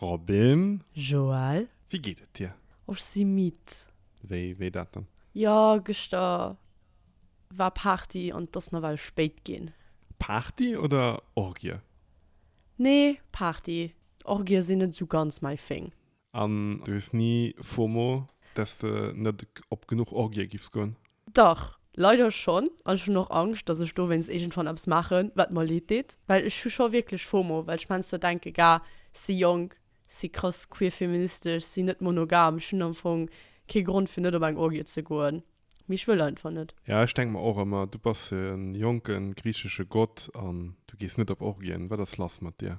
Robin. Joël. Wéi geet et dir? Oh, ech si midd. Wéi, wéi dat dann? Jo, gëschter war Party an et ass nawell spéit ginn. Party oder Orgie? Nee, Party. Orgië sinn net esou ganz mäi Thing. An du hues ni Fomo, dass de net op genuch Orgië giffs goen? Dach, leider schonn, an ech hunn och Angscht, datt ech dowéinst iergendwann eppes maachen, wat mer leed deet, well ech hu scho wierklech Fomo, well ech menster denke ga, ech si jonk, ech si krass queer-feministesch, ech si net monogam, ech hunn am Fong kee Grond fir net op eng Orgie ze goen, mee ech wëll einfach net. Ja, ech denke mer och ëmmer, du bass e jonke griichesche Gott an du gees net op Orgien, wat ass lass mat dir?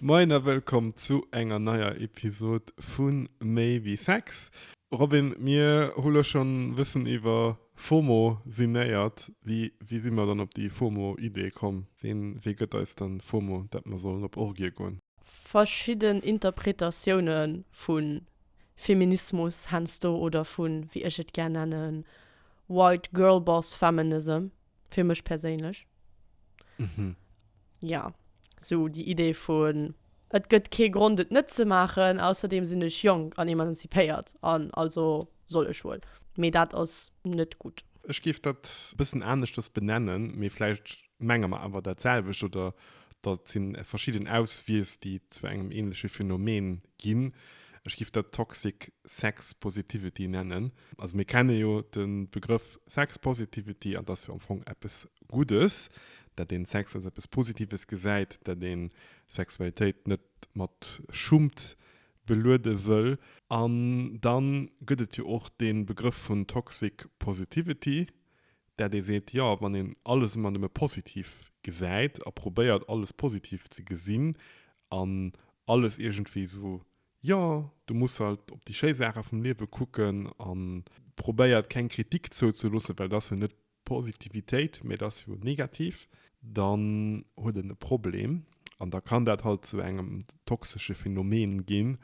Moien a wëllkomm zu enger neier Episod vu Méi wéi Sex. Robin, mir hu lo schonn e bëssen iwwer FOMO sinéiert. Wéi, wéi si mer dann op déi FOMO-Idee komm? Ween, wee gëtt eis dann FOMO, dat mer sollen op Orgië goen? Verschidden Interpretatioune vu Feminismus, heiansdo, oder vu, wéi ech et gär nennen, White Girlboss Feminism. Fir mech perséinlech. Mhm. Ja, sou déi Idee vun, et gëtt kee Grond et net ze maachen, ausserdeem sinn ech jonk an emanzipéiert an also soll ech wuel. Mee dat ass net gutt. Ech géif dat e bëssen aneschters benennen, mee vläicht menge mer awer dat selwecht oder dat si verschidden Auswiess, déi zu engem änleche Phänomen ginn. Ech géif dat Toxic Sex Positivity nennen. Also mir kenne jo de Begrëff Sex Positivity an dass jo am Fong eppes Guddes, dat een Sex als eppes Positives gesäit, dat een Sexualitéit net mat Schummt beluede wëll. An dann gëtt et jo och dee Begrëff vun Toxic Positivity, dat ee seet, jo wann een alles ëmmer nëmme positiv gesäit a probéiert alles positiv ze gesinn an alles iergendwéi esou Jo, du muss halt op déi schéi Saache vum Liewe kucken a probéiert keng Kritik zouzeloossen, well et ass jo net Positivitéit, mee et ass jo negativ. Dann huet en e Problem an da kann dat halt zu engem toxesche Phänomen ginn.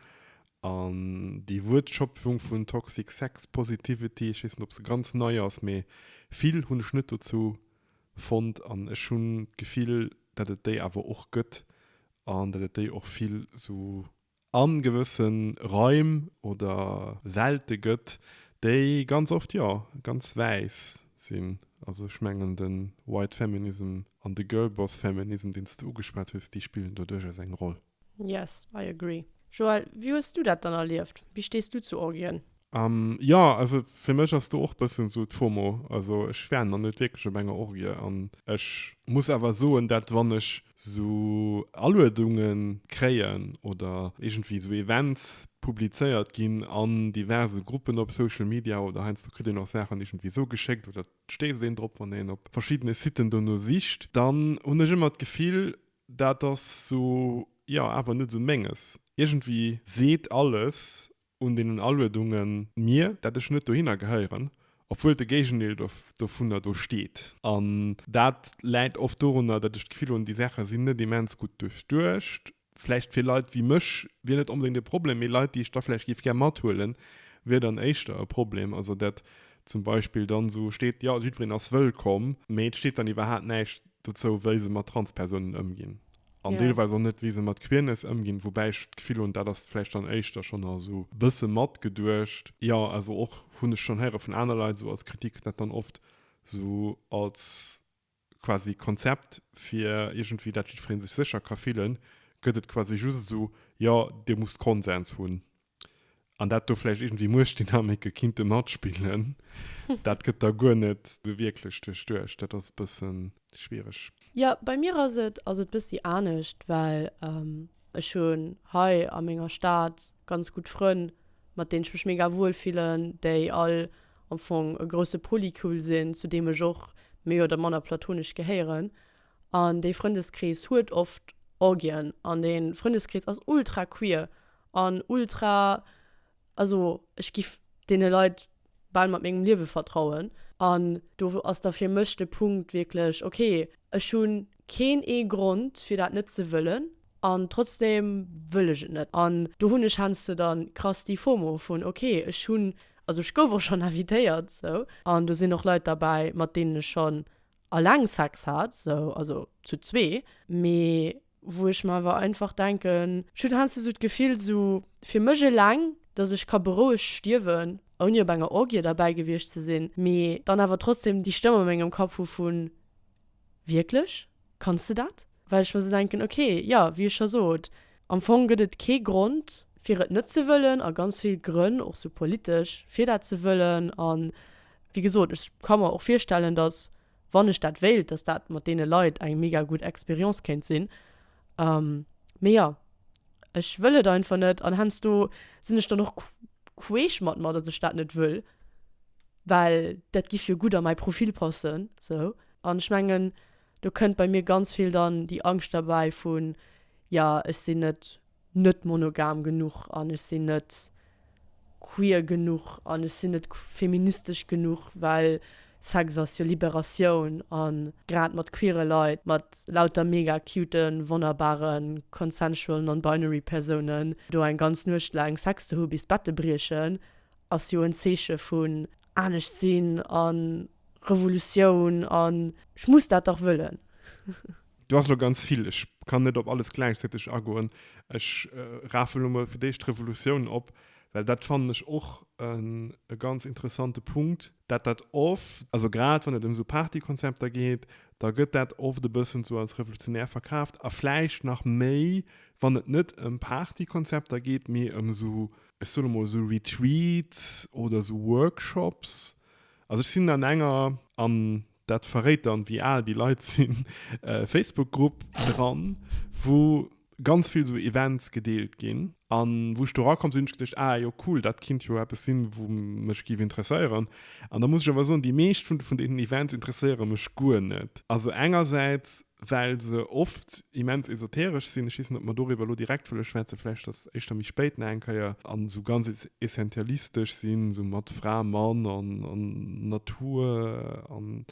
An déi Wuertschöpfung vun Toxic Sex Positivity, ech weess net, ob se ganz nei ass, mee vill hunn ech net dozou fonnt an ech hunn d'Gefill, datt et déi awer och gëtt An da gëtt déi och vill esou a gewësse Raim oder Welte gëtt, déi ganz oft, jo, ganz wäiss sinn. Also ech mengen de White Feminism an de Girlboss Feminism, deen s de ugeschwat hues, déi spillen do duerchaus eng Roll. Yes, I agree. Joëlle, wéi hues du dat dann erlieft? Wéi stees du zu Orgien? Um, jo, also fir mech ass do och bëssen esou d'Fomo. Also ech war nach net wierklech op enger Orgie an ech muss awer soen, dat wann ech esou Aluedunge kréien oder iergendwéi esou Events publizéiert ginn an diverse Gruppen op Social Media oder heiansdo kritt een och Saachen iergendwéi esou geschéckt oder et stéisst een drop wann een op verschiddene Siten dono sicht, dann hunn ech ëmmer d'Gefill, dat ass esou, jo, awer net esou menges. Iergendwéi seet alles, un deenen Aluedungen. Mir, dat ech net dohinner gehéieren, obwuel de Géigendeel dovunner do steet. An dat läit oft dorunner, datt ech d'Gefill hunn, déi Saache sinn net immens gutt duerchduecht. Vläicht fir Leit wéi mech wier net onbedéngt e Problem, mee Leit, déi ech da vläicht géif gär mathuelen, wier dann éischter e Problem. Also datt zum Beispill dann esou steet, jo, jiddwereen ass wëllkomm, mee et steet dann iwwerhaapt näischt dozou, wéi se mat Transpersounen ëmginn. An deelweis och net, wéi se mat Queerness ëmginn. Woubäi ech d'Gefill hunn, dat ass vläicht dann éischter schonn nach esou e bësse matgeduecht. Jo, also och, hunn ech schonn héiere vun aner Leit esou als Kritik, dat dann oft esou als quasi Konzept, fir iergendwéi, dat jiddweree sech sécher ka fillen, gëtt et quasi just esou, jo, dir musst Konsens hunn. An dat do vläicht iergendwéi Muechtdynamike kinnte matspillen, dat gëtt da guer net sou wierklech duerchduecht. Dat ass e bësse schwiereg. Jo, bei mir ass et ass et bëssi anescht, well ech hunn hei a menger Stad ganz gutt Frënn, mat deenen ech mech mega wuel fillen, déi all am Fong e grousse Polycule sinn, zu deem ech och méi oder manner platonesch gehéieren. An dee Frëndeskrees huet oft Orgien an dee Frëndeskrees ass ultra queer. an ultra, also ech giff deene Leit bal mat mengem Liewe vertrauen an do ass da fir mech de Punkt wierklech ok, ech hu keen ee Grond fir dat net ze wëllen an trotzdem wëll ech et net an do hunn ech heiansdo dann krass déi Fomo vun ok ech hunn, also ech gouf och schonn invitéiert sou an do sinn och Leit derbäi mat deenen ech schonn alleng Sex hat sou, also zu zwee mee wou ech mer awer einfach denken, ech hunn heiansdo sou d'Gefill, esou fir mech eleng, dass ech ka berouegt stierwen, ouni op enger Orgie derbäi gewiescht ze sinn, mee dann awer trotzdem déi Stëmm a mengem Kapp hu vu Wierklech? Kanns de dat? Well ech mer sou denken, ok, jo, wéi ech scho sot, am Fong gëtt et kee Grond, fir et net ze wëllen, a ganz vill Grënn, och sou politesch, fir dat ze wëllen. A wéi gesot, ech ka mer och virstellen, dass wann ech dat wéilt, dass dat mat deene Leit eng mega gutt Expérience kéint sinn. Mee jo, ech wëll et einfach net an heiansdo sinn ech dann och queesch mat mer, dass ech dat net wëll, well dat giff jo gutt a mäi Profil passen. Sou. An ech mengen do kënnt bei mir ganz vill dann déi Angscht derbäi vun, jo ech sinn net net monogam genuch an ech sinn net queer genuch an ech sinn net feministesch genuch, well Sex ass jo Liberatioun a grad mat queere Leit, mat lauter mega cute wonnerbare consensual non-binary Persounen do eng ganz Nuecht laang Sex ze hu bis d'Bette briechen, ass jo en Zeeche vun anescht sinn a Revolutioun an ech muss dat dach wëllen. Do ass elo ganz vill. Ech kann net op alles gläichzäiteg agoen. Ech rafen elo mol fir d'éischt d'Revolutioun op, well dat fannen ech och e ganz interessante Punkt, dat dat oft, also grad wann et ëm esou Partykonzepter geet, da gëtt dat oft e bëssen esou als revolutionär verkaaft a vläicht nach méi, wann et net ëm Partykonzepter geet, mee ëm esou, ech soe elo mol esou Retreats oder esou Workshops. Also ech sinn an enger, an Dat verréit dann wéi al déi Leit sinn. Facebook Grupp dran wou ganz vill sou Events gedeelt ginn an wou ech do rakomm sinn hunn ech geduecht ah jo cool dat kinnt jo eppes sinn wou mech giff interesséieren an da muss ech awer soen déi meescht vun deenen Events interesséiere mech guer net. Also engersäits well se oft immens esoteresch sinn, ech weess net, ob mer doriwwer elo direkt wëlle schwätzen, vläicht datt éischter méi spéit nach eng Kéier, an esou ganz essentialistesch sinn, esou mat Fra, Mann an Natur, an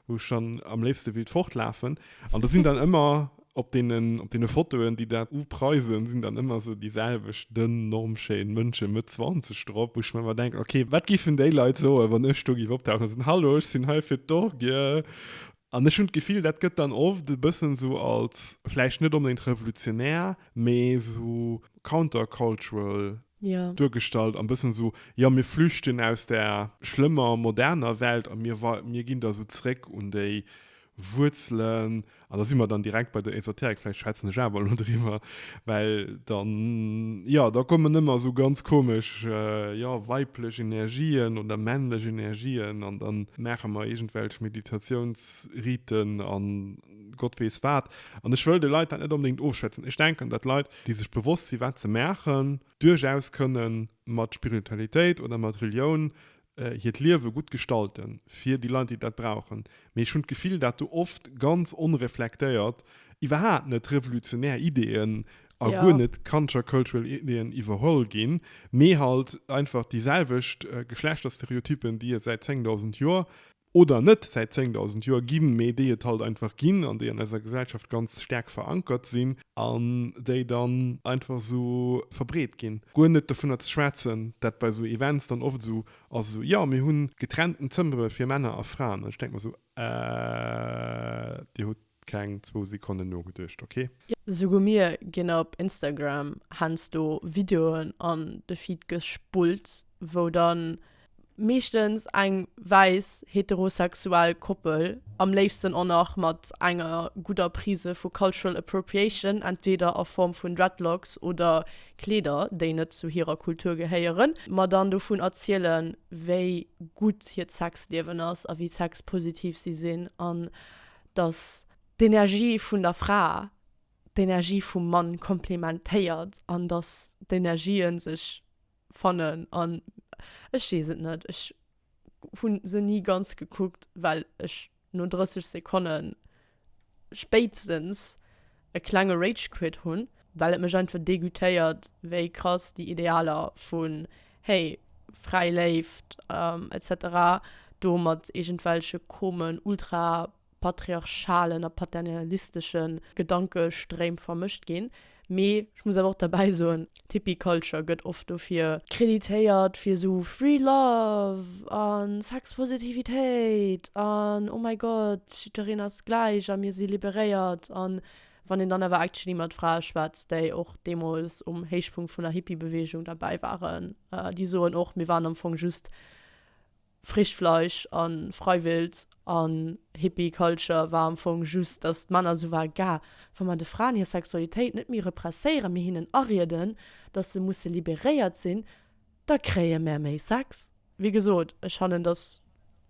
wou ech dann am léifste willt fortlafen. An do sinn dann ëmmer op deene Fotoen, déi dat upreisen, sinn dann ëmmer esou déi selwecht dënn, normschéin Mënsche Mëtt Zwanzeg drop, wou ech mer ëmmer denken, ok, wat géifen déi Leit soen, wann ech do géif optauchen a soen, Hallo, ech sinn hei fir d'Orgie. An ech hunn d'Gefill, dat gëtt dann oft e bëssen esou als, vläicht net onbedéngt revolutionär, mee esou countercultural duergestallt a bëssen esou, jo, mir flüchten aus där schlëmmer moderner Welt a mir, mir ginn da esou zréck un déi Wuerzelen. An da si mer dann direkt bei der Esoterik, vläicht schwätzen ech awer elo driwwer, Well dann, jo, da kommen ëmmer esou ganz komesch, jo, weiblech Energien oder männlech Energien an dann maache mer iergendwelch Meditatiounsriten an Gott weess wat. An ech wëll de Leit dat net onbedéngt ofschwätzen. Ech denken, dat Leit, déi sech bewosst sinn, wat se maachen, duerchaus kënnen mat Spiritualitéit oder mat Relioun hiert Liewe gutt gestalten, fir déi Leit, déi dat brauchen. Mee ech hunn d'Gefill, dat do oft ganz onreflektéiert, iwwerhaapt net revolutionär Ideeën a guer Ja. net countercultural Ideeën iwwerholl ginn, mee halt einfach déi selwecht Geschlechterstereotypen, déi et säit 10.000 Joer, oder net, säit 10.000 Joer ginn, mee déi et halt einfach ginn an déi an eiser Gesellschaft ganz staark verankert sinn an déi dann einfach esou verbreet ginn. Guer net dovunner ze schwätzen, dat bei esou Events dann oft esou ass, esou, jo, mir hunn getrennten Zëmmere fir Männer a Fraen. An ech denke mer esou, Äh, Dir hutt Keng zwou Sekonnen nogeduecht, ok? Jo, souguer mir ginn op Instagram hänsto Videoen an de Feed gespullt, wou dann meeschtens eng wäiss heterosexuell Koppel, am léifsten och nach mat enger gudder Prise vu Cultural Appropriation, entweder a Form vun Dreadlocks oder Kleeder, déi net zu hirer Kultur gehéieren, mer dann dovun erzielen, wéi gutt hiert Sexliewen ass a wéi sexpositiv si sinn an datt d'Energie vun der Fra d'Energie vum Mann komplementéiert an datt d'Energië sech fannen an ech weess et net. Ech hu se ni ganz gekuckt, well ech no 30 Sekonne spéitstens. e klenge Rage-Quit hunn, well et mech einfach degoûtéiert, wéi krass déi Idealer vun, hey, fräi Léift etc. Do mat iergendwelche komen ultra-patriarchalen a paternalistesche Gedankestréim vermëscht ginn. Mee ech muss awer och derbäi soen, D'Hippie-Culture gëtt oft dofir. Kreditéiert, fir esou free love a Sexpositivitéit an oh mäi Gott, jiddwereen ass gläich a mir si liberéiert. A wann een dann awer actually mat Frae schwätzt, déi och deemools um Héichpunkt vun der Hippie-Beweegung derbäi waren, déi soen och, mir waren am Fong just Frischt Fleisch an Freiwild an Hippie Culture war am Fong just dass d'Männer sou waren, Gah, wa mer de Fraen hir Sexualitéit net méi represséieren, mee hinnen arieden dass se musse liberéiert sinn, da kréie mer méi Sex. Wéi gesot, ech fannen dass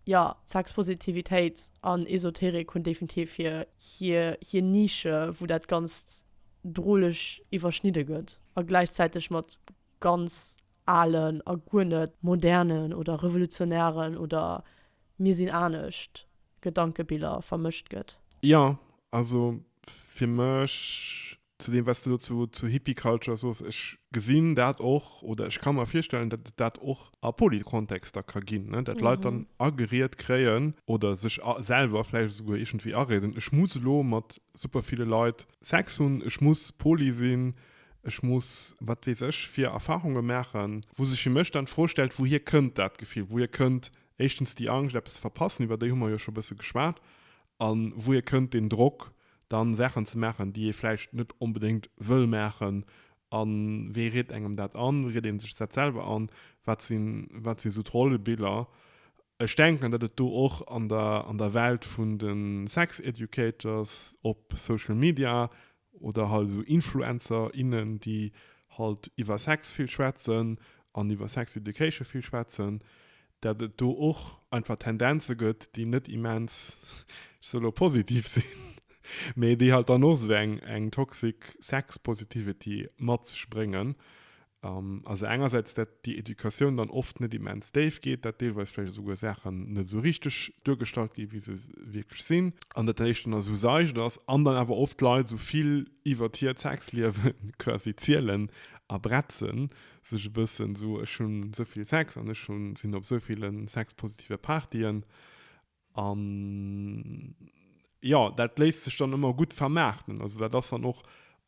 jo Sexpositivitéit an Esoterik hunn definitiv hir hir Nische wou dat ganzt droleg iwwerschnidde gëtt a gläichzäiteg mat ganz. alen a guer net modernen oder revolutionären oder mir sinn anescht Gedankebiller vermëscht gëtt. Jo, also fir mech, zu deem wat s de elo zu, zu Hippie Culture sos, ech gesinn dat och oder ech ka mer virstellen, datt et dat och a Polit-Kontexter ka ginn, ne, datt Leit dann ageriet kréien oder sech selwer vläicht esouguer iergendwéi areeden, ech muss elo mat super ville Leit Sex hunn, ech muss poli sinn, Ech muss wat weess ech fir Erfarunge maachen, wou sech fir mech dann d'Fro stellt, wouhier kënnt dat Gefill? Wouhier kënnt éischtens déi Angscht, eppes ze verpassen, iwwer déi hu mer jo scho e bësse geschwat, a wouhier kënnt deen Drock, dann Saachen ze maachen, déi ee vläicht net onbedéngt wëll maachen? A wee riet engem dat an? Riet ee sech dat selwer an? Wat si sou d'Rollebiller? Ech denken, datt et do och an der Welt vun de Sex-Educators op Social Media Oder halt esou Influencer, innen, déi halt iwwer Sex vill schwätzen an iwwer Sex Education vill schwätzen, dat et do och einfach Tendenze gëtt, déi net immens, ech sou elo, positiv sinn, mee déi halt dann och esou eng toxic Sex-Positivity mat sech bréngen. An also engersäits, dat déi Educatioun dann oft net immens déif geet, dat deelweis vläicht esouguer Saachen net esou richteg duergestallt gi wéi se wierklech sinn, an dat éischt dann esou seicht ass, an dann awer oft d'Leit esou vill iwwert hiert Sexliewe quasi zielen a bretzen, sech e bëssen esou, ech hunn esou vill Sex an ech hunn, sinn op esou ville sexpositive Partyen An jo, dat léisst sech dann ëmmer gutt vermaarten. Also dat ass dann och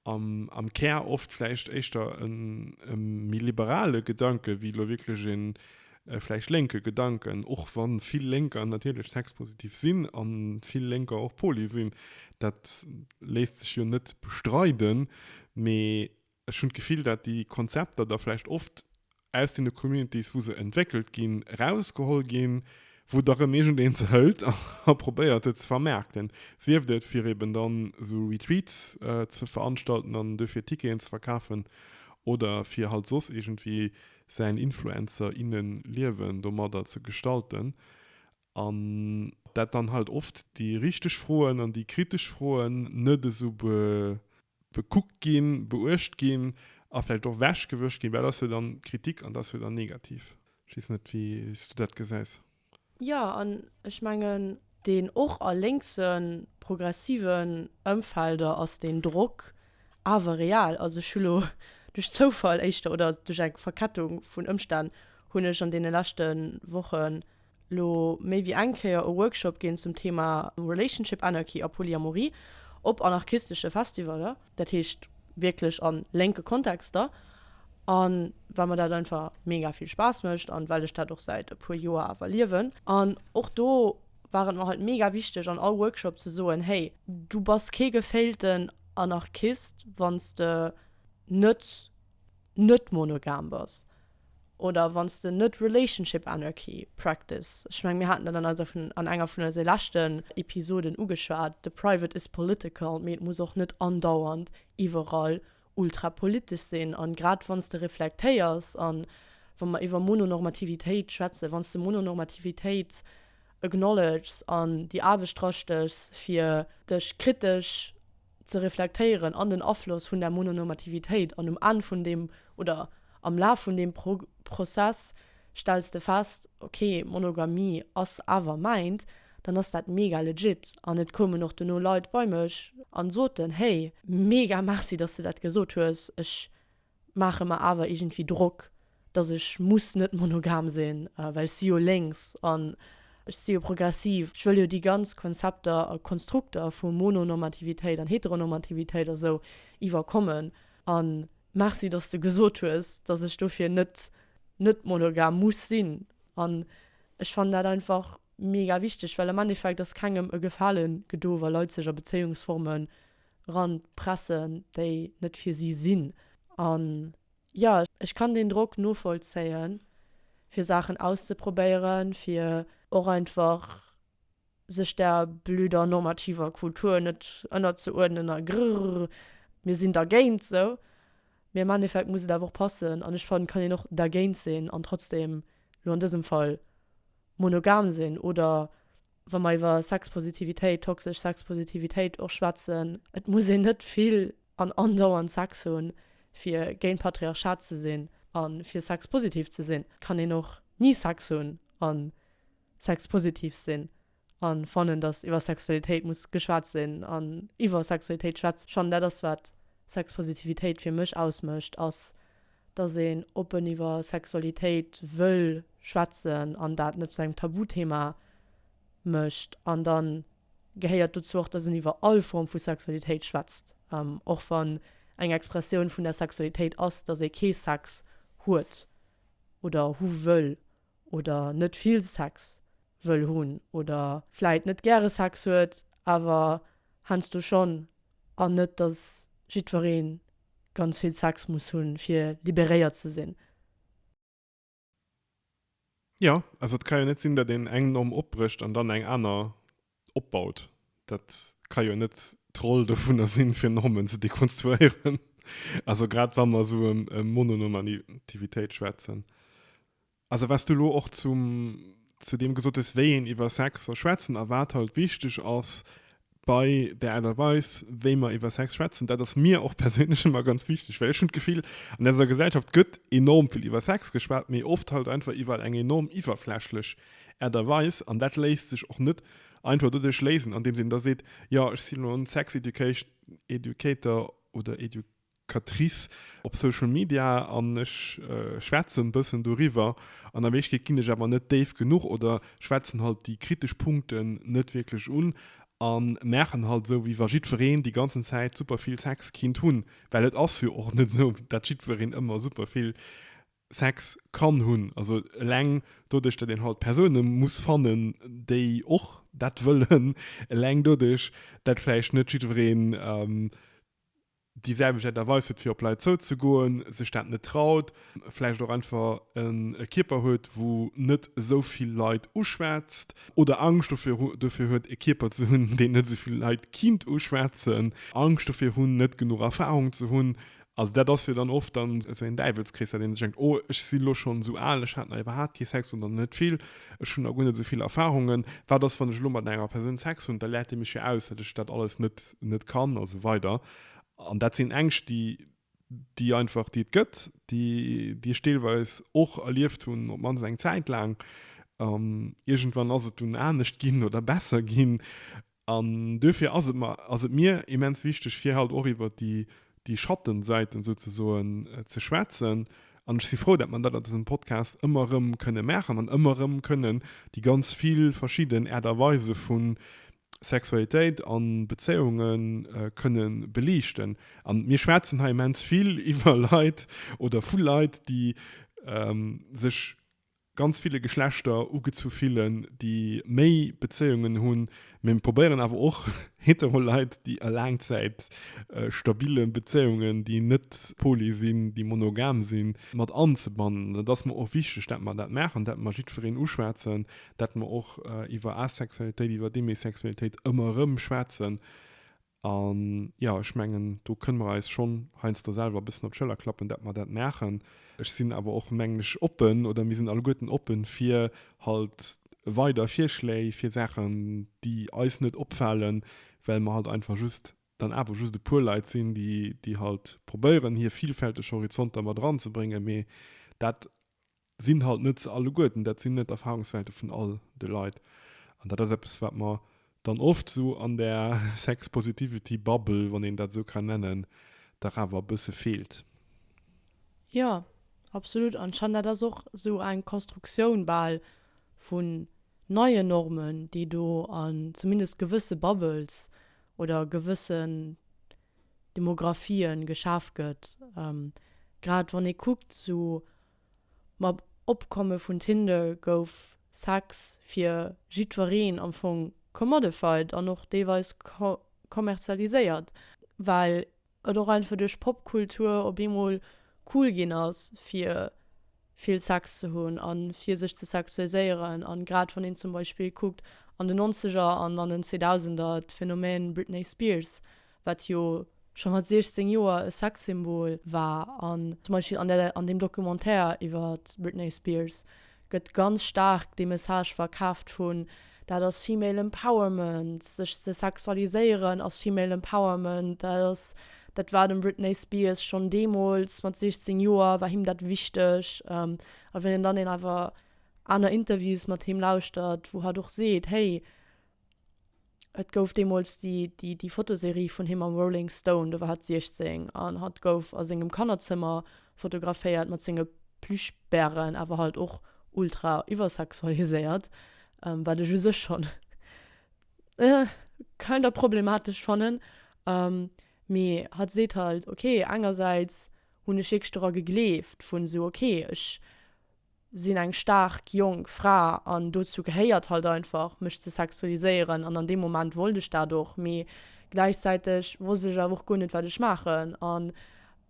am, am Kär oft vläicht éischter e méi liberale Gedanke ewéi elo wierklech ee vläicht lénke Gedanken, och wa vill Lénker natierlech sexpositiv sinn a vill Lénker och poly sinn. Dat léisst sech jo net bestreiden. Mee Ech hunn d'Gefill, dat déi Konzepter da vläicht oft aus deene Communities, wou se entwéckelt ginn, erausgeholl ginn, wou da rëm iergendeen se hëlt a probéiert, se ze vermaarkten. Sieft et, fir eben dann esou Retreats ze veranstalten an dofir Ticketen ze verkafen oder fir halt soss iergendwéi säin Influencer, innen-Liewen domadder ze gestalten. An dat dann halt oft déi richteg Froen an déi kritesch Froen net esou bekuckt ginn, beuecht ginn a vläicht och ewechgewëscht ginn, well et ass jo dann Kritik an et ass jo dann negativ. Ech weess net, wéi s du dat gesäis. Jo, an ech mengen, deen och a lénkse progressiven Ëmfelder ass deen Drock awer real. Also ech hu lo duerch Zoufall éischter oder duerch eng Verkettung vun Ëmstänn hunn ech an deene leschte Wochen, Lo méi wéi eng Kéier e Workshop ginn zum Thema Relationship Anarchy a Polyamorie op anarchistesche Festivaller, dat heescht wierklech a lénke Kontexter, a well mer dat einfach mega vill Spaass mécht an well ech dat och säit e puer Joer awer liewen. An och do war et mer halt mega wichteg an all Workshop ze soen, hey, du bass kee geféilten Anarchist wann s de net net monogam bass oder wann s de net Relationship Anarchy practice, ech meng mir haten dat an eiser vun an enger vun eise leschten Episoden ugeschwat, the private is political, mee et muss och net andauernd iwwerall ultra politesch sinn an grad wann s de reflektéiers an wa mer iwwer Mononormativitéit schwätzen, wann s de Mononormativitéit acknowledges an déi Aarbecht drastechs fir dech kritesch ze reflektéieren an den Afloss vun der Mononormativitéit. An um Enn vun deem, oder am Laf vun deem Prozess stells de fest, ok, Monogamie ass awer mäint, dann ass dat mega legit. An et koumen och dono Leit bei mech an soten, hey, mega Merci, dass de dat gesot hues, ech maache mer awer iergendwéi Drock, datt ech muss net monogam sinn, well ech si jo lénks an ech si jo progressiv. Ech wëll jo déi ganz Konzepter a Konstrukter vu Mononormativitéit an Heteronormativitéit a sou iwwerkommen. A merci, datt s de gesot hues, datt ech dofir net net monogam muss sinn. An ech fannen dat einfach mega wichteg, well am Endeffekt ass kengem e Gefale gedo, wa Leit sech a Bezéiungsforme ranpressen, déi net fir si sinn. An jo, ech kann deen Drock novollzéien, fir Saachen auszeprobéieren, fir och einfach sech der blöder normativer Kultur net ënnerzeuerdnen a grrrr, mir sinn dergéint esou. Mee am Endeffekt muss et awer och passen. An ech fannen, et kann een och dergéint sinn an trotzdeem, elo an dësem Fall, monogam sinn oder wa mer iwwer Sexpositivitéit, toxesch Sexpositivitéit och schwätzen, et muss een net vill an andauernd Sex hunn, fir géint Patriarchat ze sinn a fir sexpositiv ze sinn. Et kann een och ni Sex hunn a sexpositiv sinn a fannen, datt iwwer Sexualitéit muss geschwat sinn. An iwwer Sexualitéit schwätze schonn, dat ass, wat Sexpositivitéit fir mech ausmécht, ass, dass een oppen iwwer Sexualitéit wëll schwätzen an dat net zu engem Tabuthema mécht. An da gehéiert dozou och, dass een iwwer all Form vu Sexualitéit schwätzt, och wann eng Expressioun vun der Sexualitéit ass, dass ee kee Sex huet oder hu wëll oder net vill Sex wëll hunn oder vläicht net gäre Sex huet, awer heiansdo schonn, an net, dass jiddweree ganz vill Sex muss hunn fir liberéiert ze sinn. Jo, also et ka jo net sinn dat een eng Norm opbrécht an dann eng aner opbaut. Dat ka jo net d'Roll dovunner sinn fir Normen ze dekonstruéieren, also grad wa mer esou e Mononormativitéit schwätzen. Also wat s du elo och zum, zu deem gesot hues, wéi een iwwer Sex soll schwätzen a wat halt wichteg ass bei der Aart a Weis, wéi mer iwwer Sex schwätzen, dat ass mir och perséinlech ëmmer ganz wichteg. Well ech hunn d'Gefill, an eiser Gesellschaft gëtt enorm vill iwwer Sex geschwat, mee oft halt einfach iwwer eng enorm iwwerflächlech Aart a Weis. An dat léisst sech och net einfach doduerch léisen, andeems een da seet, jo, ech sinn elo en Sex-Education, educator oder edu, Catrice op Social Media an ech schwätzen bëssen doriwwer an a Wierklechkeet ginn ech awer net déif genuch oder schwätzen halt déi kritesch Punkten net wierklech un a maachen halt esou wéi wa jiddwereen déi ganzen Zäit super vill Sex kinnt hunn, well et ass jo och net esou dat jiddwereen ëmmer super vill Sex kann hunn, also eleng doduerch dat een halt Persoune muss fannen déi och dat wëllen, eleng doduerch dat vläicht net jiddwereen. déi selwecht Aart a Weis huet fir op Leit zouzegoen, sech dat net traut, vläicht och einfach en Kierper huet wou net esou vill Leit uschwätzt oder Angscht dofir huet e Kierper ze hunn deen net esou vill Leit kinnt uschwätzen, Angscht dofir hunn net genuch Erfarung ze hunn. Also dat ass jo dann oft dann esou een Däiwelskrees, dat een sech denkt, oh ech si lo schonn esou al, ech hat nach iwwerhaapt kee Sex oder net vill. Ech hunn da guer net esou vill Erfahrungen. Wat ass, wann ech elo mat enger Persoun Sex hunn? Da läert déi mech jo aus, datt ech dat alles net, net kann a sou weider. An dat sinn Ängscht, déi, déi einfach, déi et gëtt, déi, déi ech deelweis och erlieft hunn, op d'mannst eng Zäit laang. An iergendwann ass et dunn anescht ginn oder besser ginn. An duerfir ass et mer, ass et mir immens wichteg, fir halt och iwwert déi, déi Schattensäiten souzesoen ze schwätzen. An ech si frou, dat mer dat a dësem Podcast ëmmer erëm kënnen maachen an ëmmer erëm kënnen déi ganz vill verschidden Aart a Weise vu Sexualitéit a Bezéiunge kënne beliichten. An mir schwätzen hei immens vill iwwer Leit oder vu Leit, déi sech ganz ville Geschlechter ugezu fillen, déi méi Bezéiungen hunn, mee probéieren awer och hetero Leit, déi a Laangzäit stabile Bezéiungen, déi net poly sinn, déi monogam sinn, mat anzebannen. Et ass mer och wichteg, dat mer dat maachen, dat mer jiddwereen uschwätzen, dat mer och iwwer Asexualitéit, iwwer Demisexualitéit ëmmer erëm schwätzen, An, jo, ech mengen, do kënne mer eis schonn heiansdo selwer e bëssen op d'Schëller klappen, datt mer dat maachen. Ech sinn awer och, mengen ech, oppen, oder mir sinn alleguerten oppen, fir halt weider Virschléi fir Saachen, déi eis net opfalen, well mer halt einfach just dann awer just e puer Leit sinn, déi halt probéieren, hir vilfälteg Horizonter mat eranzebréngen. Mee dat sinn halt net se alleguerten, dat sinn net d'Erfahrungswelte vun all de Leit. An dat ass eppes, wat mer dann oft esou an där Sex-Positivity-Bubble, wann een dat esou kann nennen, dach awer e bësse feelt. Jo, absolut. An ech fannen, dat ass och esou eng Konstruktioun bal vun neien Normen, déi do an zumindest gewësse Bubbles oder gewëssen Demographien geschaf gëtt. Grad wann ee kuckt, esou Mam Opkomme vun Tinder gouf Sex fir jiddwereen am Fong commodified an och deelweis kommerzialiséiert, well et och einfach duerch Popkultur op eemol cool ginn ass fir vill Sex ze hunn a fir sech ze sexualiséieren. A grad wann een zum Beispill kuckt an den Nonzeger an an den Zweedausender, d'Phänomen Britney Spears, wat jo scho mat 16 Joer e Sexsymbol war, an zum Beispill an der, an deem Documentaire iwwer d'Britney Spears gëtt ganz staark dee Message verkaaft vun, dat ass Female Empowerment, sech ze sexualiséieren ass Female Empowerment, dat ass, dat war dem Britney Spears schonn deemools mat 16 Joer war him dat wichteg, a wann een dann een awer aner Interviews mat him lauschtert, wou hatt och seet, hey, Et gouf deemools déi, déi, déi Fotoserie vun him am Rolling Stone, do war hatt 16, an hatt gouf a sengem Kannerzëmmer fotograféiert mat senge Plüschbären, awer halt och ultra iwwersexualiséiert, wat ech u sech schonn kind of problematesch fannen. Mee hatt seet halt, ok, engersäits hunn ech wierklech dora gegleeft, vu sou, ok, ech sinn eng staark jonk Fra an dozou gehéiert halt einfach mech ze sexualiséieren an an deem Moment wollt ech dat och, mee gläichzäiteg wosst ech awer och guer net wat ech maachen an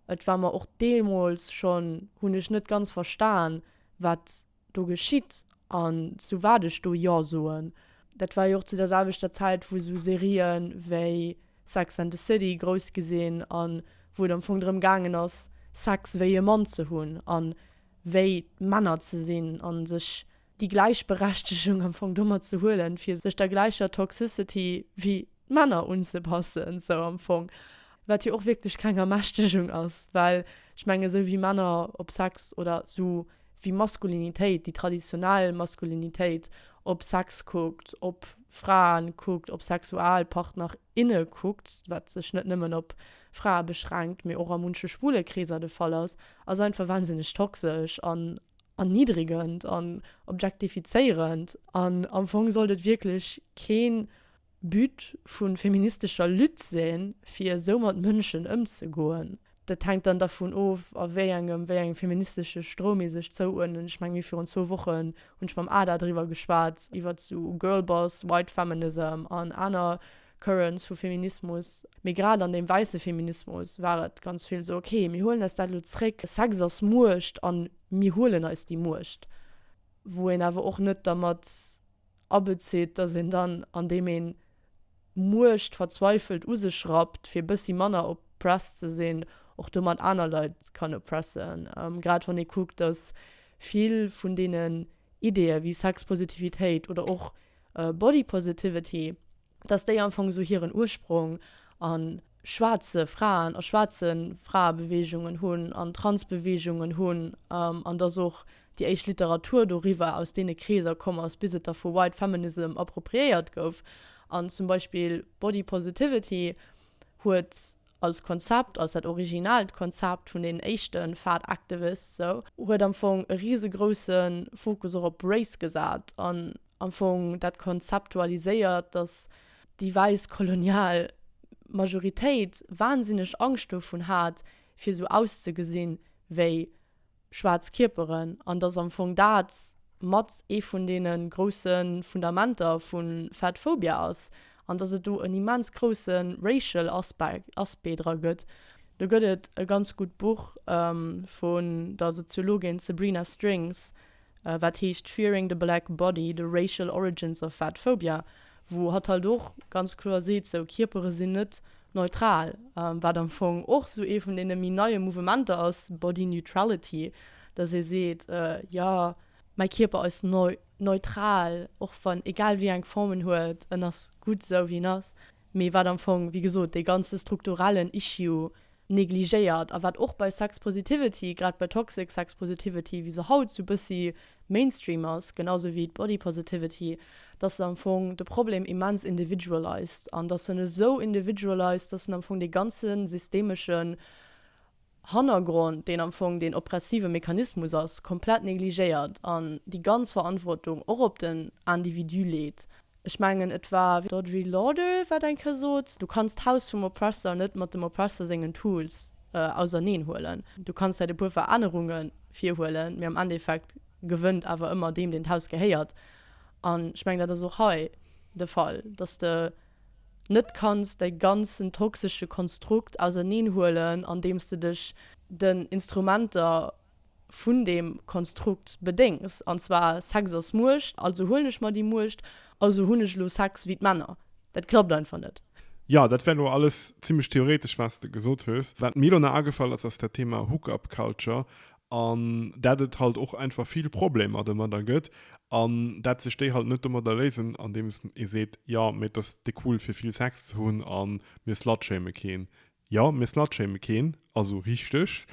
et war mer och deemools schonn, hunn ech net ganz verstan wat do geschitt an zu wat ech do jo soen. Dat war jo och zu der selwechter Zäit wou sou Serien wéi Sex and the City grouss gi sinn an wou et am Fong drëm gaangen ass Sex wéi e Mann ze hunn an wéi Männer ze sinn a sech déi Gläichberechtegung am Fong domat ze huelen, fir sech der gläicher Toxicity wéi d'Männer unzepassen, sou am Fong. Wat jo och wierklech keng Ermächtegung ass, well ech menge esou wéi Männer op Sex oder esou wéi Maskulinitéit, déi traditionell Maskulinitéit op Sex kuckt, op Fraen kuckt, op Sexualpartner, inne kuckt, wat sech net nëmmen op Frae beschränkt, mee och a munche schwule Kreeser de Fall ass, Ass einfach wahnsinneg toxesch an erniddregend an objektifizéierend an am Fong sollt et wierklech kee But vu feministescher Lutte sinn, fir esou mat Mënschen ëmzegoen. Dat hänkt dann dervun of, a wéi engem, wéi engem feministesche Stroum ee sech zouuerdnen. Ech menge mir virun zwou Wochen hunn ech mam Ada driwwer geschwat, iwwert esou Girlboss, White Feminism an aner. Currents vu Feminismus, mee grad an deem wäisse Feminismus war et ganz vill esou, okay, mir huelen eis dat elo zréck, Sex ass Muecht a mir huelen eis déi Muecht. Wou een awer och net dermat abezitt, datt een dann, andeem een d'Muecht verzweifelt u sech rappt, fir e bëssi manner oppressed ze sinn, och domat aner Leit kann oppressen. Grad wann ee kuckt, datt vill vun deenen Ideeë wéi Sexpositivitéit oder och Body Positivity, dass déi am Fong esou hiren Ursprong a schwaarze Fraen a schwaarze Fraebeweegungen hunn an Transbeweegungen hunn an dass och déi éischt Literatur doriwwer aus deene Kreeser komm ass, bis et da vu White Feminism appropriéiert gouf. An zum Beispill Body Positivity huet als Konzept, als dat originaalt Konzept vun deenen éischte Fat Activists esou, huet am Fong e risegrousse Fokus och op Race gesat an am Fong dat konzeptualiséiert, datt déi wäiss kolonial Majoritéit wahnsinneg Angscht dovun hat, fir esou auszegesinn, wéi schwaarz Kierperen, an dass am Fong dat mat ee vun deene grousse Fundamenter vu Fat Phobia ass, an dass et do en immens grousse racial Aspect dra gëtt. Do gëtt et e ganz gutt Buch vun der Soziologin Sabrina Strings, wat heescht Fearing the Black Body, The Racial Origins of Fat Phobia, wou hatt halt och ganz kloer seet, sou Kierpere sinn net neutral, wat am Fong och sou ee vun deene méi neie Mouvementer ass, Body Neutrality, datt ee seet, jo, mäi Kierper ass neutral, och wann, egal wéi eng Form en huet, en ass gutt esou wéi en ass, mee wat am Fong, wéi gesot, dee ganze strukturellen Issue negligéiert a wat och bei Sex Positivity, grad bei Toxic Sex Positivity, wéi se haut sou bëssi Mainstream ass, genau sou wéi d'Body Positivity, dass se am Fong de Problem immens individualized an dass en esou individualized, dass en am Fong dee ganze systemeschen Hannergrond, deen am Fong deen oppressive Mechanismus ass, komplett negligéiert an déi ganz Verantwortung och op den Individu leet. Ech mengen et war d'Audrey Lorde wat eng Kéier sot, du kanns d'Haus vum Oppressor net mat dem Oppressor sengen Tools auserneen huelen. Du kanns vläit e puer Verännerunge virhuelen, mee am Endeffekt gewënnt awer ëmmer deem deen d'Haus gehéiert. An ech mengen dat ass och hei de Fall, datt de net kanns däi ganzen toxesche Konstrukt auserneen huelen andeems de dech den Instrumenter, vun deem Konstrukt bedéngs, an zwar Sex ass Muecht, also huelen ech mer déi Muecht, also hunn ech elo Sex wéi d'Männer. Dat klappt einfach net. Jo, dat war elo alles zimlech theoretesch, wat s de gesot hues. Wat mir elo nach agefall ass, ass dat Thema Hook-up Culture, an dat et halt och einfach vill Problemer domadder gëtt, an dat sech déi halt net domadder léisen, andeems ee seet, jo, mee et ass de cool fir vill Sex ze hunn, a mir slut-shame keen. Jo, mir slutshame keen, also richteg,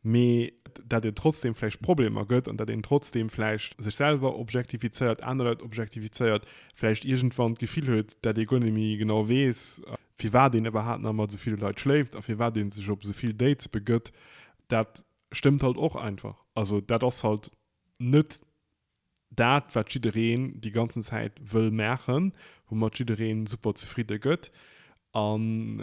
mee dat een trotzdem vläicht Problemer gëtt an dat een trotzdem vläicht sech selwer objektifizéiert, aner Leit objektifizéiert, vläicht iergendwann d'Gefill huet, dat ee guer net méi genau weess, firwat een iwwerhaapt nach mat esou ville Leit schléift a firwat ee sech op esou vill Dates begëtt, dat stëmmt halt och einfach. Also dat ass halt net dat wat jiddereen déi ganzen Zäit wëll maachen, woumat jiddereen super zefridde gëtt. An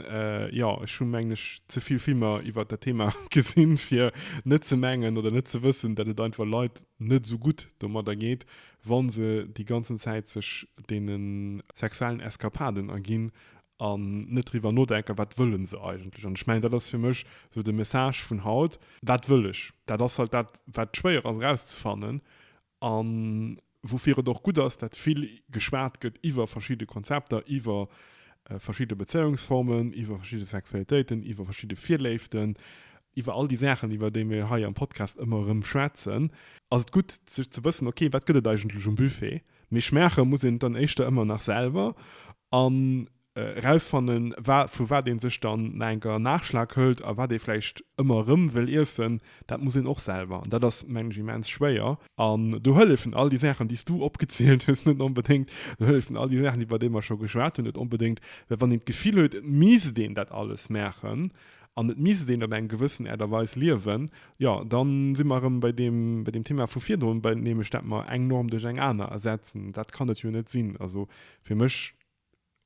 jo, ech hu mengen ech ze vill Filmer iwwert dat Thema gesinn, fir net ze mengen oder net ze wëssen, dat et einfach Leit net esou gutt domadder geet, wa se déi ganzen Zäit sech deene sexuellen Eskapaden erginn an net driwwer nodenken, wat wëlle se eigentlech. An ech mengen, dat ass fir mech esou de Message vun haut, Wat wëll ech? Dat ass halt dat, wat schwéier ass erauszefannen a woufir et och gutt ass, dat vill geschwat gëtt iwwer verschidde Konzepter, iwwer verschidde Bezéiungsformen, iwwer verschidde Sexualitéiten, iwwer verschidde Virléiften, iwwer all déi Saachen, iwwer déi mir hei am Podcast ëmmer erëm schwätzen, ass et gutt, sech ze wëssen, Okay, wat gëtt et eigentlech um Buffet? Mee schmache muss een et dann éischter ëmmer nach selwer an erausfannen, vu wat ee sech dann nach eng Kéier en Naachschlag hëlt a wat ee vläicht ëmmer erëm wëll iessen. Dat muss een och selwer an dat ass, mengen ech, immens schwéier. An do hëllefen all déi Saachen, déi s du opgezielt hues, net onbedéngt. Do hëllefen all déi Saachen, iwwer déi mer scho geschwat hunn, net onbedéngt, well wann een d'Gefill huet, et misst een dat alles maachen, an et misst een op eng gewëssen Äert a Weis liewen, jo, da si mer erëm bei deem, bei deem Thema vu virdrun, bei, nämlech dat mer eng Norm duerch eng aner ersetzen. Dat kann et jo net sinn. Also fir mech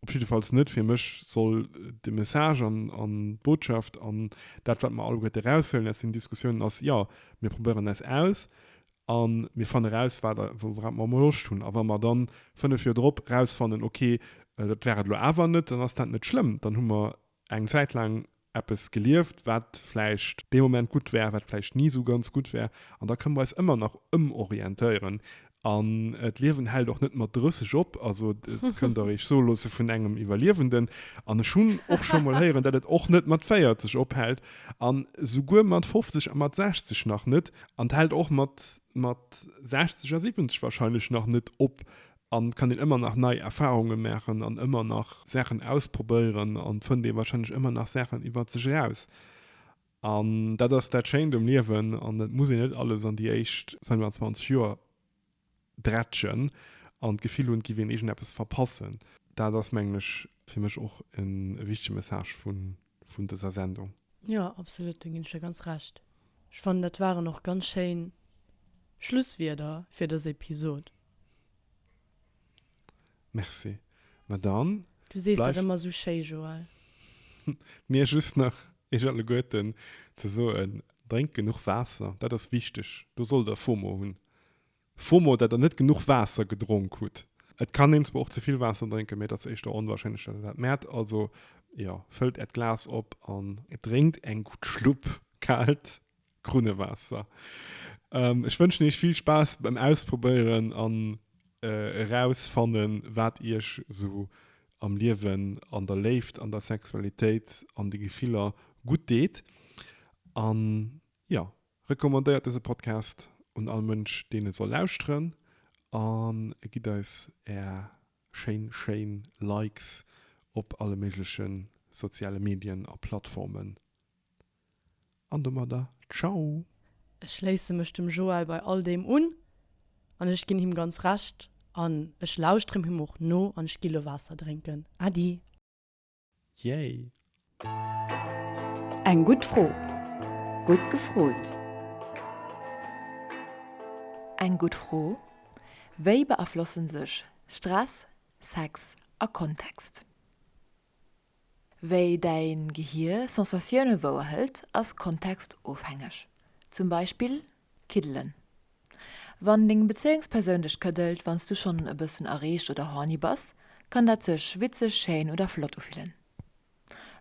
op jiddefalls net. Fir mech soll de Message an, an d'Botschaft an dat, wat mer alleguerte eraushuelen aus deenen Diskussiounen ass, jo, mir probéieren eis aus a mir fannen eraus, wat, wourap mer emol Loscht hunn. A wa mer dann fënnef Joer drop erausfannen, okay, dat war et elo awer net, dann ass dat net schlëmm, dann hu mer eng Zäit laang eppes gelieft, wat vläicht dee Moment gutt war, wat vläicht ni esou ganz gutt war, an da kënne mer eis ëmmer nach ëmorientéieren. An d'Liewen hält och net mat 30 op, also et kënnt der eech soe loosse vun engem Iwwerliewenden. An ech hunn och scho mol héieren, datt et och net mat 40 ophält an esouguer mat 50 a mat 60 nach net. An et hält och mat 60 a 70 warscheinlech nach net op, An kann een ëmmer nach nei Erfahrungen maachen an ëmmer nach Saachen ausprobéieren an fënnt ee wahrscheinlech ëmmer nach Saachen iwwert sech eraus. An dat ass dat Schéint um Liewen an et muss een net alles an déi éischt 25 Joer drätschen an d'Gefill hunn, et giff een iergendeppes verpassen. Dat ass mengen ech fir mech och e wichtege Message vun vun dëser Sendung. Jo, absolut, do ginn ech der ganz Recht. Ech fannen, dat waren och ganz schéin Schlusswierder fir dës Episod. Merci. Ma dann. Du sees dat ëmmer esou schéi, Joël. Mir just nach Iech alleguerten ze soen, Drénkt genuch Waasser, dat ass wichteg. Do sollt Der FOMO hunn. FOMO, datt der net genuch Waasser gedronk hutt. Et kann een zwar och ze vill Waasser drénken, mee et ass éischter onwarscheinlech, datt een dat mäert. Also jo, fëllt äert Glas op an. Drénkt eng gutt Schlupp kaalt Krunnewaasser. Ech wënschen iech vill Spaass beim Ausprobéieren an erausfannen, wat iech esou am Liewen, an der Léift, an der Sexualitéit, an de Gefiller gutt deet. An jo, Recommandéiert dëse Podcast un all Mënsch, deen e soll lauschteren a gitt eis Är schéin, schéin Likes op alle méigleche soziale Medien a Plattformen. An domadder Ciao! Ech schléisse mech dem Joël bei all deem un an ech ginn him ganz Recht an ech lauschteren him och no an ech gi lo Waasser drénken. Äddi! Yay! Eng gutt Fro! Gutt gefrot! Eng gutt Fro! Wéi beaflossen sech Stress, Sex a Kontext? Wéi däi Gehier Sensatioune wouerhëlt, ass kontextofhängeg. Zum Beispill Kiddelen. Wann deng Bezéiungspersoun dech këddelt, wann s du schonn e bëssen erreegt oder horny bass, kann dat sech witzeg, schéin oder flott ufillen.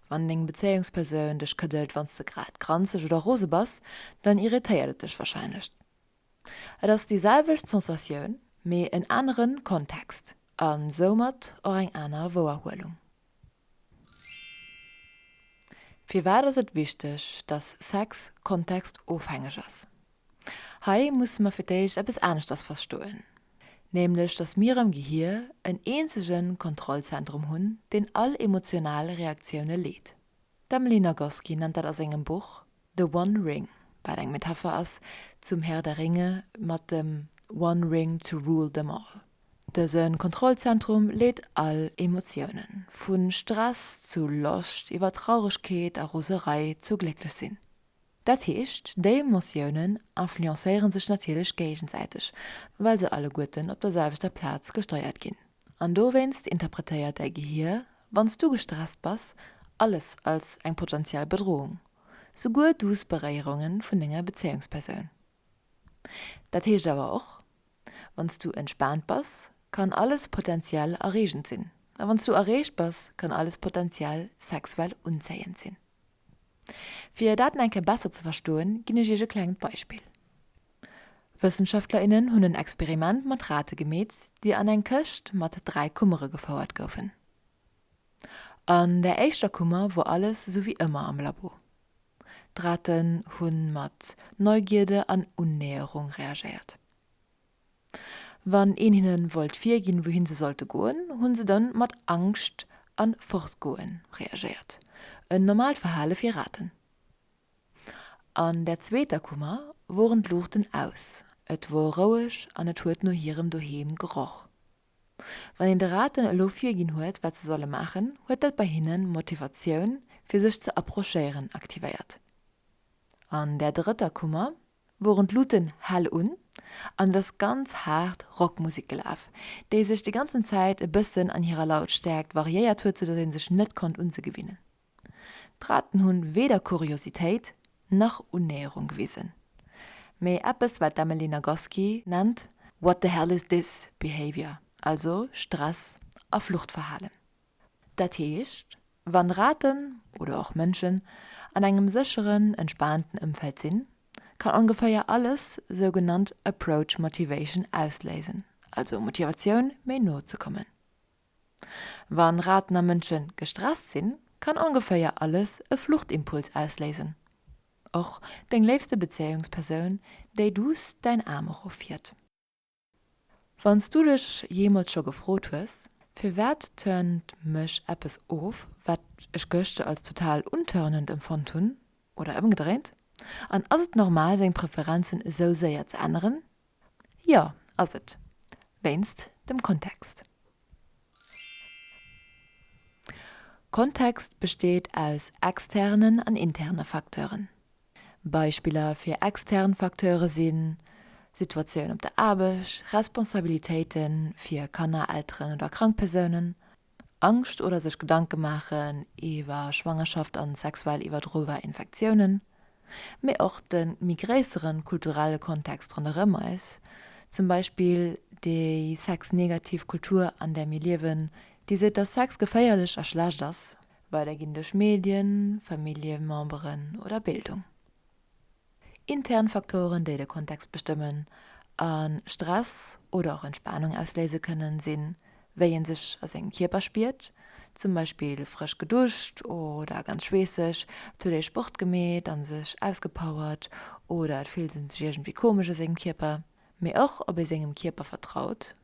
Wann deng Bezéiungspersoun dech këddelt, wann s de grad granzeg oder rose bass, dann irritéiert et dech warscheinlech. Et ass déi selwecht Sensatioun, mee en anere Kontext a soumat och eng aner Wouerhuelung. Firwat ass et wichteg, dass Sex kontextofhängeg ass? Hei musse mer fir d'éischt eppes aneschters verstoen, nämlech dass mir am Gehir en eenzege Kontrollzentrum hunn, deen all emotional Reaktioune leet. D'Emily Nagoski nennt dat a sengem Buch The One Ring, wat eng Metapher ass zum Herr der Ringe mat dem One Ring to rule them all. Dëse Kontrollzentrum leet all Emotiounen, vu Stress zu Loscht, iwwer Trauregkeet a Roserei zu glécklech sinn. Dat heescht, déi Emotiounen influencéiere sech natierlech géigesäiteg, well se alleguerten op der selwechter Plaz gesteiert ginn. An dowéinst interpretéiert däi Gehier, wann s du gestresst bass, alles als eng potentiell Bedrohung. souguer douce Beréierunge vun denger Bezéiungspersoun. Dat heescht awer och, Wann s du entspaant bass, kann alles potenziell erreegend sinn, a wann s du erreegt bass, kann alles potenziell sexuell unzéiend sinn. Fir dat nach eng Kéier besser ze verstoen, ginn ech iech e klengt Beispill. Wëssenschaftlerinnen hunn en Experiment mat Rate gemeet, déi an eng Këscht mat dräi Kummere gefouert goufen. An der éischter Kummer wor alles esou wéi ëmmer am Labo. D'Raten hunn mat Neugierde an Unnäherung reagéiert. Wann een hinnen wollt virginn wouhin se sollte goen, hunn se dann mat Angscht an Fortgoen reagéiert, en normaalt Verhalen fir Raten. An der zweeter Kummer woren d'Luuchten aus, et wor roueg an et huet no hirem Doheem geroch. Wann een de Raten elo virginn huet, wat se solle maachen, huet dat bei hinnen d'Motivatioun, fir sech ze approchéieren, aktivéiert. An där drëtter Kummer woren d'Luuten hell un an et ass ganz haart Rockmusek gelaf, déi sech déi ganzen Zäit e bëssen an hirer Lautstäerkt variéiert huet, soudatt ee sech net konnt un se gewinnen. D'Raten hu weder Kuriositéit nach Unnäherung gewisen, mee eppes wat d'Emily Nagoski nennt What the hell is this behaviour, also Stress a Fluchtverhalen. Dat heescht, wann Raten, oder och Mënschen, an engem sécheren, entspaanten Ëmfeld sinn, kann ongeféier alles sougenannt approach motivation ausléisen, also Motivatioun méi no ze kommen. Wa Raten a Mënsche gestresst sinn, kann ongeféier alles e Fluchtimpuls ausléisen. Och deng léifste Bezéiungspersoun, déi duuss däin Aarm erofhieft. Wann s du dech jeemools scho gefrot hues, Firwat turnt mech eppes of, wat ech gëschter als total untörnend empfonnt hunn, oder ëmgedréint, an ass et normal seng Preferenzen esou séier ze änneren? Jo, ass et. Wéinst dem Kontext. Kontext besteet aus externen an interne Facteuren. Beispiller fir extern Facteure si Situatioun op der Aarbecht, Responsabilitéite fir Kanner, Elteren oder krank Persounen, Angscht oder sech Gedanke maachen iwwer Schwangerschaft an sexuell iwwerdrobar Infektiounen, mee och den méi gréisseren kulturellen Kontext ronderëm eis, zum Beispill déi sexnegativ Kultur an där mir liewen, déi seet dass Sex geféierlech a schlecht ass, weiderginn duerch Medien, Familljememberen oder Bildung. Intern Faktoren, déi de Kontext bestëmmen a Stress oder och Entspanung ausléise kënnen, sinn, wéi ee sech a sengem Kierper spiert, zum Beispill frësch geduscht oder ganz schweesseg, et huet ee Sport gemeet a sech ausgepowert oder et fillt ee sech iergendwéi komesch a sengem Kierper, mee och ob ee sengem Kierper vertraut,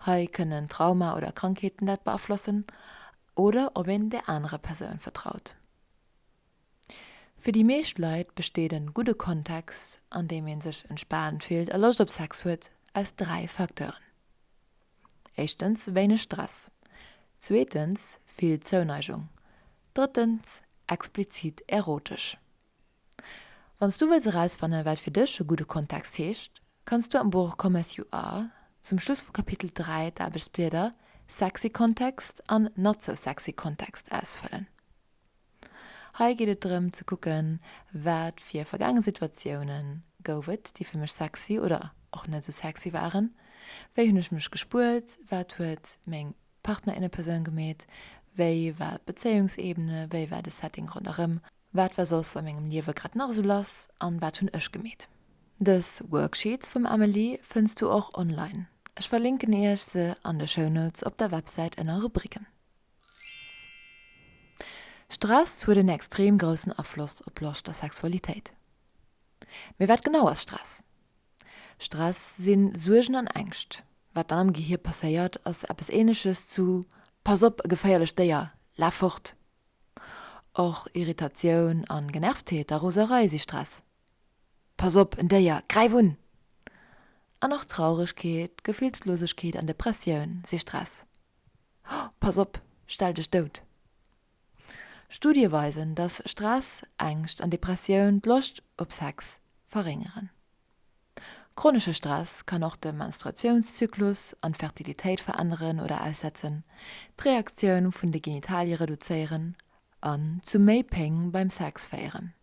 hei kënnen Trauma oder Krankheeten dat beaflossen, oder ob een där anerer Persoun vertraut. Fir déi meescht Leit besteet en gudde Kontext an deem een sech entspaant fillt a Loscht op Sex huet aus 3 Facteuren. Éischtens wéineg Stress, zweetens vill Zouneigung, drëttens explizit erotesch. Wanns du wëlls erausfannen wat fir dech e gudde Kontext heescht, kanns du am Buch Come As You Are zum Schluss vu Kapitel 3 d'Aarbechtsblieder Sexy Context an Not So Sexy Context ausfëllen. Hei geet et drëm ze kucken, wat fir vergaange Situatioune gouf et, déi fir mech sexy oder och net esou sexy waren. Wéi hunn ech mech gespuert? Wat huet meng Partnerinnepersoun gemeet? Wéi war d'Bezéiungsebene? Wéi war de Setting ronderëm? Wat war soss a mengem Liewe grad nach esou lass an wat hunn ech gemeet? Dës Worksheets vum Amelie fënns du och online. Ech verlinken iech se an de Shownotes op der Websäit ënner Rubriken. Stress huet en extrem groussen Afloss op Loscht a Sexualitéit. Mee wat genau ass Stress? Stress si Suergen an Ängscht. Wat dann am Gehier passéiert, ass eppes Ähnleches zu Pass op, e geféierlecht Déier, laf fort! Och Irritatioun a Genervtheet a Roserei si Stress, Pass op, en Déier, gräif un! An och Trauregkeet, Gefillslosegkeet an Depressioun si Stress, Pass op, stell dech dout! Studie weisen, dass Stress, Ängscht an Depressioun d'Loscht op Sex verréngeren. Chronesche Stress kann och de Menstruatiounszyklus an d'Fertilitéit veränneren oder aussetzen, d'Reaktioun vun de Genitalie reduzéieren an zu méi Péng beim Sex féieren.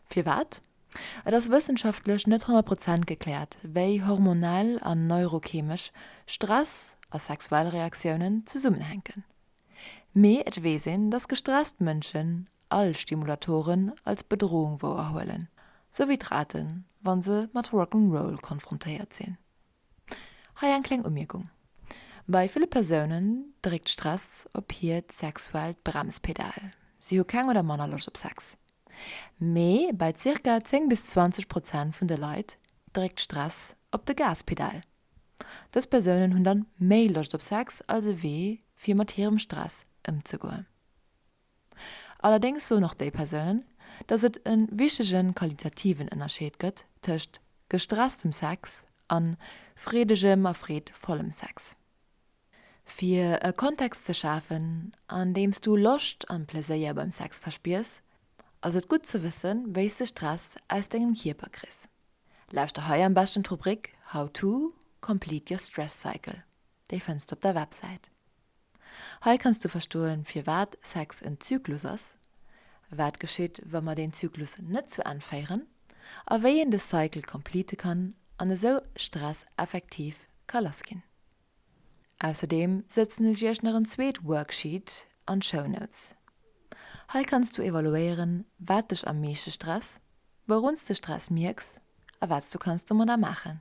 Firwat? Et ass wëssenschaftlech net 100 Prozent gekläert, wéi hormonell an neurocheemesch Stress a sexuell Reaktiounen zesummenhänken. Mee et weess een, dass gestresst Mënschen all Stimulatoren als Bedrohung wouerhuelen, sou wéi d'Raten, wa se mat Rock'n'Roll konfrontéiert sinn. Hei eng kleng Umierkung, Bei ville Persounen dréckt Stress op hiert sexuellt Bremspedal, si hu keng oder manner Loscht op Sex. Mee bei zirka 10 bis 20 Prozent vun de Leit dréckt Stress op de Gaspedal. Dës Persounen hunn dann méi Loscht op Sex als e Wee fir mat hirem Stress ëmzegoen. Allerdéngs soen och déi Persounen, datt et e wichtege qualitativen Ënnerscheed gëtt tëscht gestresstem Sex a freedegem a freedvollem Sex. Fir e Kontext ze schafen, an deem s du Loscht an Pleséier beim Sex verspiers, ass et gutt ze wëssen, wéi s de Stress aus dengem Kierper kriss. Lauschter hei am beschten d'Rubrik How to Complete Your Stress Cycle, déi fënns du op der Websäit. Hei kanns du verstoen, firwat Sex en Zyklus ass, wat geschitt, wa mer deen Zyklus net zu Enn féieren a wéi een de Cycle complete kann an esou Stress effektiv ka lass ginn. Ausserdeem sëtzen ech iech nach en zweet Worksheet an d'Show Notes. Hei kanns du evaluéieren, wat dech am meeschte stress, wouruns de Stress mierks a wat s du kanns domadder maachen.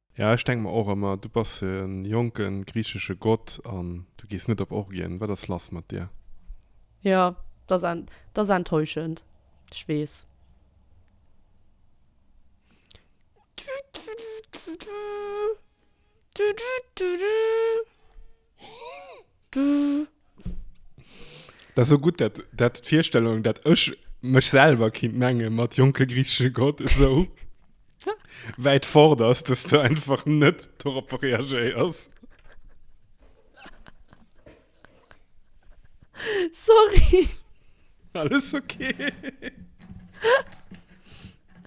Ja, ech denk mer och emmer, du bass e jonke griichesche Gott an du gees net op Orgien. Wat ass lass mat dir? Jo, dat ass enttäuschend, ech weess. Dat ass esou gutt, dat, dat d'Virstellung, dat ech mech selwer kinnt menge mat jonke griichesche Gott esou wäit fort ass, dass de einfach net doropper reagéiers. Sorry. Alles ok.